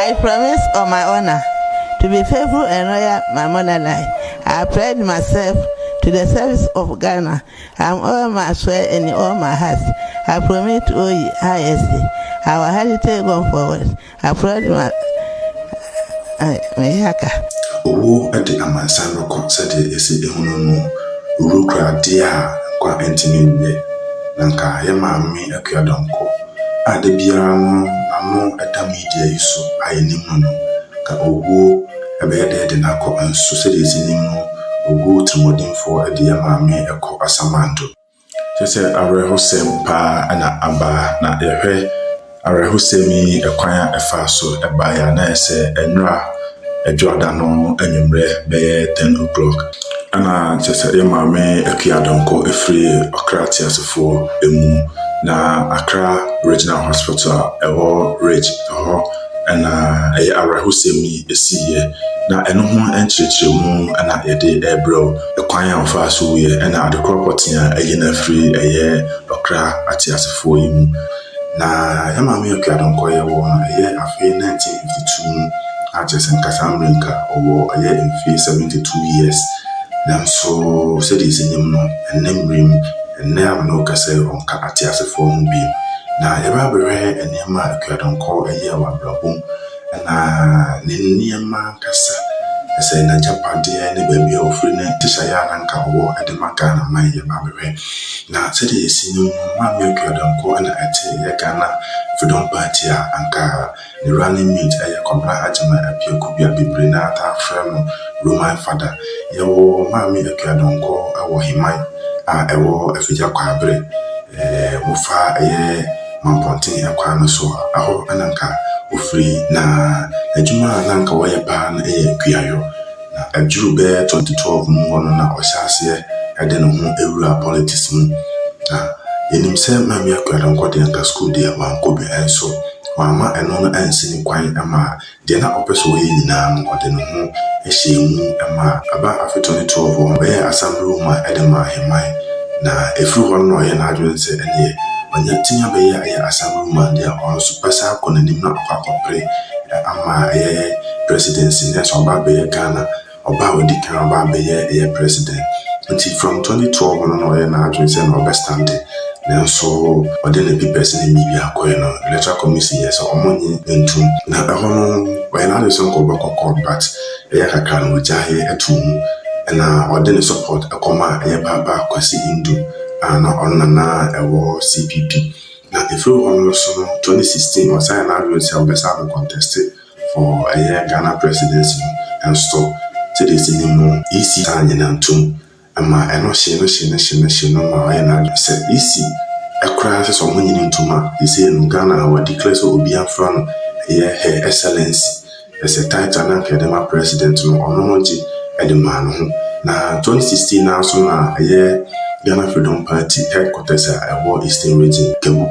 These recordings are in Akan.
I promise on my honor to be faithful and loyal my motherland, I pledge myself to the service of Ghana am all my swear and in all my heart I promit oyi ISA our heritage gone forward I pledge my meyɛ aka. Owuo de amansan no kɔ sɛdeɛ ɛsi ehunu no wurukuradie a nkwa ntumi nyɛ, na nka yɛn maame Akua Donkor Ade biara no n'ano da media yi so a yenim no no, ka oguo, ɛbɛyɛ dɛ de no akɔ, nso sɛdeɛ yɛsi nim no, oguo tirimuɔdenfoɔ de yɛn maame kɔ asamando. Kyerɛ sɛ awerɛhosɛm pa ara na aba, na yɛhwɛ awerɛhosɛm yi kwan a ɛfaa so baeɛ a, na ayɛ sɛ nnora. Dwoada no anwummerɛ bɛyɛ ten o'clock. Ɛna kyerɛ sɛ yɛ maame Akua Donkor firi Ɔkra Teasefoɔ mu, na Accra Regional Hospital a ɛwɔ Ridge hɔ na ɛyɛ awerɛhosɛm yi siiɛ. Na ɛno ho nkyerɛkyerɛmu na yɛde rebrɛ wo, kwan a ɔfaa so wuiɛ, ɛna adekorɔ pɔtee a ayi no afiri ɛyɛ Ɔkra Ateasefoɔ yi mu. Na yɛn Maame Awke Addo Nkor yɛwɔ no ɛyɛ afe 1952 mu a kyerɛ sɛ nka saa mmerɛ yi nka ɔwɔ ɛyɛ mfeɛ 72 years nanso sɛdeɛ yɛsi nim no ɛnnɛ mmerɛ mu ɛnnɛ a me ne wo kasa yi ɔnka ateasefoɔ ho bio na yɛbɛ abɛhwɛ nneɛma a Awke Addo Nkor ɛyɛɛ wɔ abrabɔ mu Na ne nneɛma ankasa, ɛsɛ n'agyapadeɛ ne baabi a ɔfiri ne nhyehyɛeɛ a na anka ɔwɔ de ma Ghana man yɛ ba bɛhwɛ. Na sɛdeɛ yɛsi nim no, Maame Akua Donkor na ɛte yɛ Ghana Freedom Party a anka ne running mate ɛyɛ Kwabena Agyemang Apiakubi a bebree no ara taa frɛ no Roman Fada. Yɛwɔ Maame Akua Donkor wɔ Heman a ɛwɔ Afigya Kwaeberɛ, ɛɛ mofa ɛyɛ. Mampɔnten akwan no so a, ɛhɔ na na anka ɔfiri, na adwuma a na anka ɔyɛ paa no yɛ kuayɔ. Na ɛduruu bɛyɛ 2012 mu hɔ no, na ɔhyɛɛ aseɛ de ne ho wuraa politics mu. Na yɛnim sɛ Maame Akuadɔnkɔ deɛ anka sukuu deɛ wankɔ bi, nso wamma ɛno no ansi no kwan mmaa Deɛ na ɔpɛ sɛ ɔyɛ nyinaa no, ɔde ne ho hyɛɛ mu maa. Ɛbaa afe tɔ ne toɔ hɔ, ɔbɛyɛɛ asamblewoma de maa Ahemman, na ɛfiri hɔ no na ɔyɛɛ n'adwene sɛ ɛnneɛ ɔnya tumi abɛyɛ ayɛ asamblewoma deɛ a ɔnso bɛsan akɔ n'anim na wakɔ akɔpere ama ɛyɛ presidency, nanso ɔba abɛyɛ Ghana. Ɔba a odi kan aba abɛyɛ yɛ president nti from twenty twelve no na ɔyɛ n'adwene sɛ na ɔbɛ stande nanso ɔde ne papers ne ne biribiaa kɔɛ no electoral commision yɛ sɛ ɔmo nye ntum na ɛhɔ no ɔyɛ n'adwene sɛ nka ɔbɛ kɔ court but ɛyɛ kakra no ɔgyaeɛ too mu ɛna ɔde ne support ɛkɔ maa yɛ paapa Kwasi Ndu a na ɔno na na ɛwɔ CPP na ɛfiri hɔ no nso no twenty sixteen ɔsan yɛ n'adwene sɛ ɔbɛ san abɛ conteste Wɔ ɛyɛ Ghana presidency no nso, sɛdeɛ yɛsi nim no, EC taa nyɛ nantum ma ɛno hye no hye no hye no hye no ma ɔyɛ n'adwene sɛ EC koraa sɛ sɛ wɔnyɛ no ntum a, seesei no Ghana a wa declare sɛ obiara mfra no ɛyɛ Her Excellency, ɛsɛ title no a nka yɛde ma president no ɔno no gye de maa ne ho. Na 2016 no ara nso na ɛyɛ Ghana Freedom Party headquarters a ɛwɔ Eastern Region, Kegu,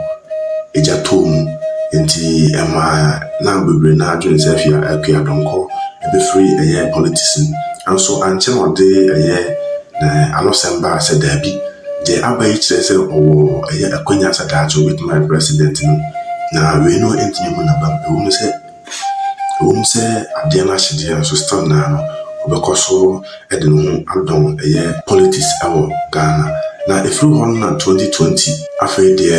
gya tɔɔ mu nti ɛmaa na bebree naa dwen sɛ afia akua dɔnkɔ ɛbɛfiri ɛyɛ politisin nso ankyɛ na ɔde ɛyɛ na anosɛm baa sɛ daabi deɛ aba yi kyerɛ sɛ ɔwɔ ɛyɛ akwanya sɛ daakye ɔbɛtumi ayɛ president no na wei no ntumi hu nabam ɛwom sɛ ɛwom sɛ adeɛ no ahye deɛ nso still naa no ɔbɛkɔ so de ne ho adɔn yɛ politics wɔ Ghana. Na ɛfiri hɔ no na 2020 afei deɛ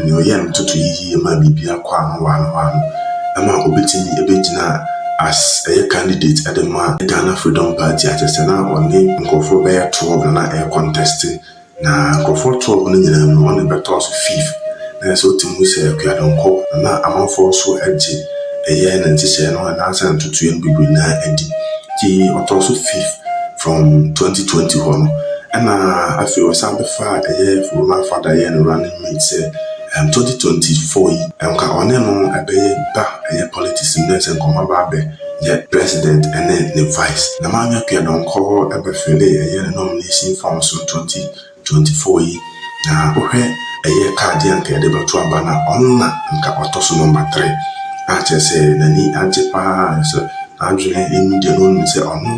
nea ɔyɛɛ no toto yiyie maa biribiara kɔɔ ano wɔ ano wɔ ano ma ɔbɛtumi bɛgyinaa as ɛyɛ candidate de maa Ghana Freedom Party a kyerɛ sɛ na ɔne nkurɔfoɔ bɛyɛ 12 na na ɛreconteste Na nkurɔfoɔ too hɔ no nyinaa mu no, ɔne bɛtɔɔ so fifth. Na ɛyɛ sɛ ɔte mu sɛ Akuadonko, na na amanfoɔ nso gye ɛyɛ ne nhyehyɛeɛ no anaasɛ ntotoeɛ no bebree no ara di. Nti ɔtɔɔ so fifth from 2020 hɔ no. Ɛna afei ɔsan bɛfaa ɛyɛ Roman Father yɛɛ no running mate sɛ ɛɛm 2024 yi nka ɔne no ɛbɛyɛ ba ɛyɛ politics mu na ɛyɛ sɛ nkɔmmɔ aba abɛ yɛ President ne ne Vice. Na Maame Appiah Donkor bɛfillee ɛyɛ ne nomination form so 2024 yi, na wohwɛ ɛyɛ card yi a anka yɛde bɛto aba no a, ɔno na anka ɔtɔ so number three, a kyerɛ sɛ n'ani agye pa ara nso n'adwene nnyi deɛ na ɔnim sɛ ɔno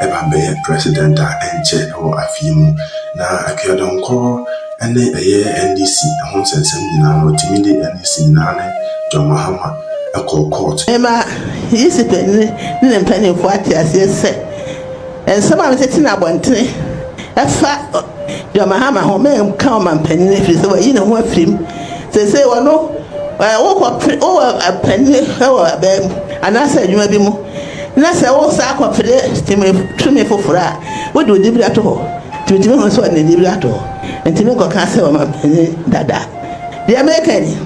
ɛba bɛyɛ President a ɛnkyɛ wɔ afe yi mu. Na Appiah Donkor ne ɛyɛ NDC ho nsɛnsɛm nyinaa no, ɔtumi de NDC nyinaa ne John Mahama, kɔ kɔɔt. Ɛma Yesu panyin ne ne mpanyimfo ate aseɛ sɛ, nsɛm a metete no abɔntene ɛfa John Mahama ho, menka ɔmampanyin ɛfiri sɛ wayi ne ho afiri mu. Seesei ɔno, wokɔ pere, wowɔ panyin wɔ abaa mu anaasɛ adwuma bi mu na sɛ wosan kɔ pere tumi foforɔ a, wode wo dibere ato hɔ. Nti metumi hunu sɛ ɔde ne dibere ato hɔ. Nti menkɔka sɛ ɔmampanyin dada. Deɛ mereka nie,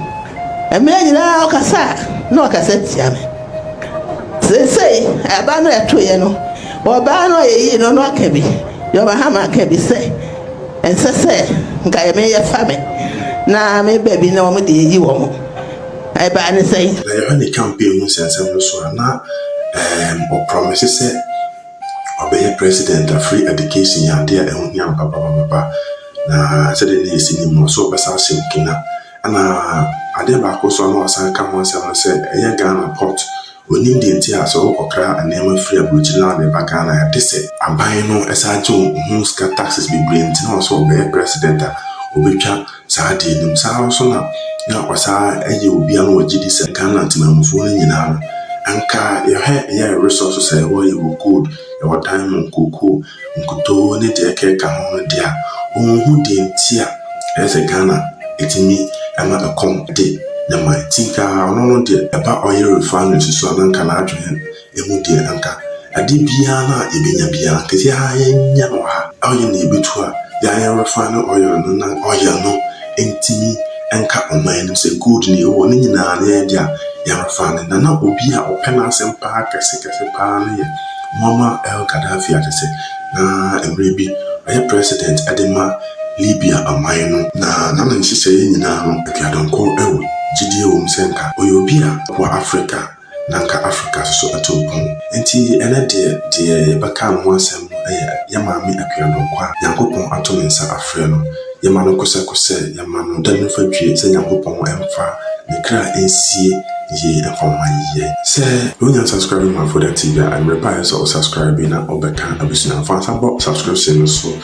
mmerɛ nyinaa ɔkasa a, na ɔkasa tia me. Seesei, ɛba no ɛtoeɛ no, ɔbaa no a yɛyii no no aka bi, John Mahama aka bi sɛ, ɛnsɛ sɛ nka yɛ me yɛfa me na me ba bi na wɔn de ayi wɔn. Ɛbaa no sɛn? Na yɛhwɛ ne campaign mu nsɛnsɛm no so a, na ɛɛm, ɔprɔmese sɛ ɔbɛyɛ president a free education yɛ ade a ɛho hia no papapapapa na sɛdeɛ na yɛsi nim no ɔsɛ ɔbɛsa ahyɛ Burkina ɛna adeɛ baako nso a na wasan ka ho asɛm no sɛ ɛyɛ Ghana port onim deɛ nti a sɛ wokɔkra nneɛma firi aburokyiri na wode ba Ghana a ɛte sɛ aban no ɛsan gye ho sika taxes bebree nti na ɔsɛ ɔbɛyɛ president a ɔbɛtwa Saa adeɛ no mu. Saa ara nso na na ɔsan yɛ obi a na ɔgye di sɛ Ghana temanmufoɔ no nyinaa no, anka yɛhwɛ yɛ resources a yɛwɔ, yɛwɔ gold, yɛwɔ diamond, cocoa, nkutoo ne deɛ ɛkeka ho no deɛ a, ɔnhu deɛ nti a ɛyɛ sɛ Ghana ɛtumi ma ɛkɔm de ne man. Nti nka ɔno no deɛ ɛba oil refineries so a na anka n'adwene Emu deɛ anka ade biara no a yɛbɛnya biara anka sɛ haa yɛnyɛ no wɔ ha. Oil no yɛbɛtu a yɛa yɛ refine oil no na oil no ntumi nka ɔman anim sɛ gold na yɛwɔ ne nyinaa na yɛn de a yɛ refine. Na na obi a ɔpɛ n'asɛm paa kɛse kɛse paa no yɛ Muammar el Gaddafi a kyɛ sɛ na mmerɛ bi ɔyɛ president de ma Libya ɔman no. Na na ne nhyehyɛeɛ nyinaa no aduadɔnkɔ wɔ gyidie wɔ mu sɛ anka ɔyɛ obi a ɔboa Africa. na anka Afrika nso atu mpɔn. Enti ɛnnɛ deɛ, deɛ yɛbɛka ne ho asɛm no yɛ yɛn Maame Akuadɔnkɔ a Nyankopɔn ato ne nsa afrɛ no. Yɛma no kosɛkosɛ sɛ yɛmma no da no fadwie sɛ Nyankopɔn mfa ne kra nsie yie mfa mma yɛn. Sɛ wonya subscribing ma Foda TV a, ɛmmere pa a ɛsɛ sɛ wo subscribe na wobɛka abusua no. Fa nsa bɔ subscription no so.